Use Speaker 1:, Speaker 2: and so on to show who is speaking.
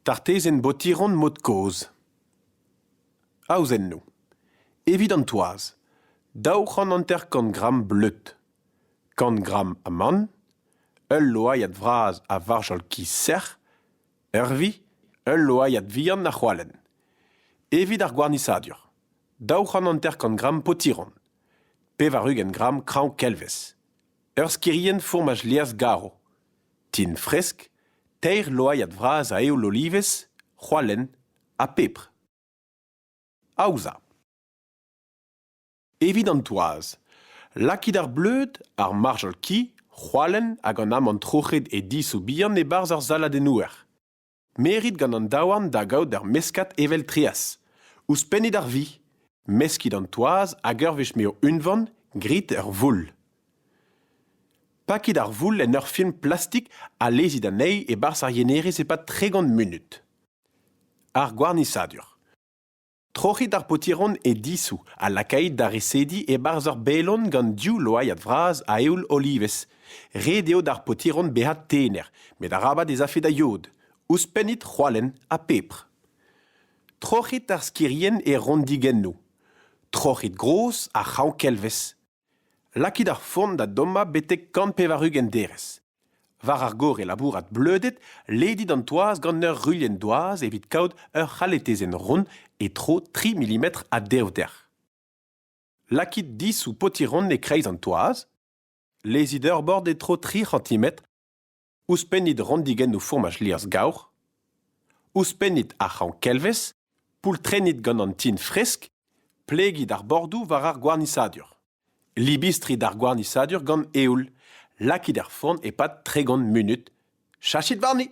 Speaker 1: Tartezenn Botiron mod-kozh Aozennoù Evit an toaz daou c'hant hanter-kant gramm bleud, kant gramm amann, ul loaiad vras a varjol kiz sec'h, ervi, ul loaiad vihan ha c'hoalenn. Evit ar gwarnisadur daou c'hant hanter-kant gramm potiron. Pevar-ugent gramm kraoñ-kelvez. Ur skirienn fourmaj-lierz garv. Tin fresk, teir loaiad vras a eoul olivez, c'hoalenn ha pebr. Aozañ. Evit an toaz, lakit ar bleud, ar marjal-ki, c'hoalenn hag an amann troc'het e disoù bihan e-barzh ar saladennoùer. Me rit gant an daouarn da gaout ur meskad evel treaz. Ouzhpennit ar vi. Meskit an toaz hag ur wech m'eo unvan, grit ur voull. Pakit ar voull en ur film plastik ha lezit anezhi e-barzh ar yenerez e-pad tregont munut. Ar gwarnisadur. Troc'hit ar paotiron e disoù ha lakait da resediñ e-barzh ur belon gant div loaiad vras a eoul olivez. Ret eo d'ar paotiron bezañ tener, met arabat ez afe da yod. Ouzhpennit c'hoalenn ha pepr. Troc'hit ar skirien e rondigennoù. Troc'hit gros ar c'hraoñ-kelvez. Lakit ar forn da dommañ betek kant pevar-ugent derez. War ar gorre labourat bleudet, ledit an toaz gant ur ruilhenn-doaz evit kaout ur c'haletezenn ront e-tro tri milimetr a devder. Lakit disou potiron e-kreiz an toaz. Lezit ur bord e-tro tri c'hantimetr. Ouzhpennit rannigennoù fourmaj liorzh-gaur. Ouzhpennit ar c'hraoñ-kelvez. Poultrennit gant an tin fresk. Plegit ar bordoù war ar gwarnisadur. Libistrit ar gwarnisadur gant eoul. Lakit er forn e-pad tregont munut. Cheñchit warni.